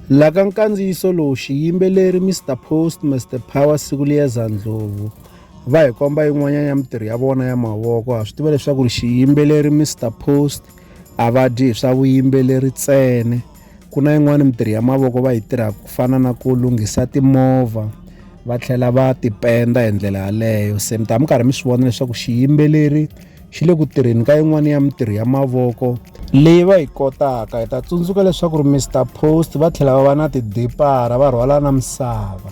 La ka nkandziyiso lowu xiyimbeleri Mister Post Mister Power Sikuliyeza Ndlovu va hi komba yin'wanyana ya mitirho ya vona ya mavoko ha swi tiva leswaku ri xiyimbeleri Mister Post a va dyi hi swa vuyimbeleri tsene ku na yin'wani mitirho ya mavoko va yi tirhaka ku fana na ku lunghisa timovha va tlhela va tipenda hi ndlela yaleyo se mi ta mi karhi mi swi vona leswaku xiyimbeleri xi le ku tirheni ka yin'wana ya mitirho ya mavoko leyi va yi kotaka hi ta tsundzuka leswaku ri mr post va tlhela va va na tidipara va rhwala na misava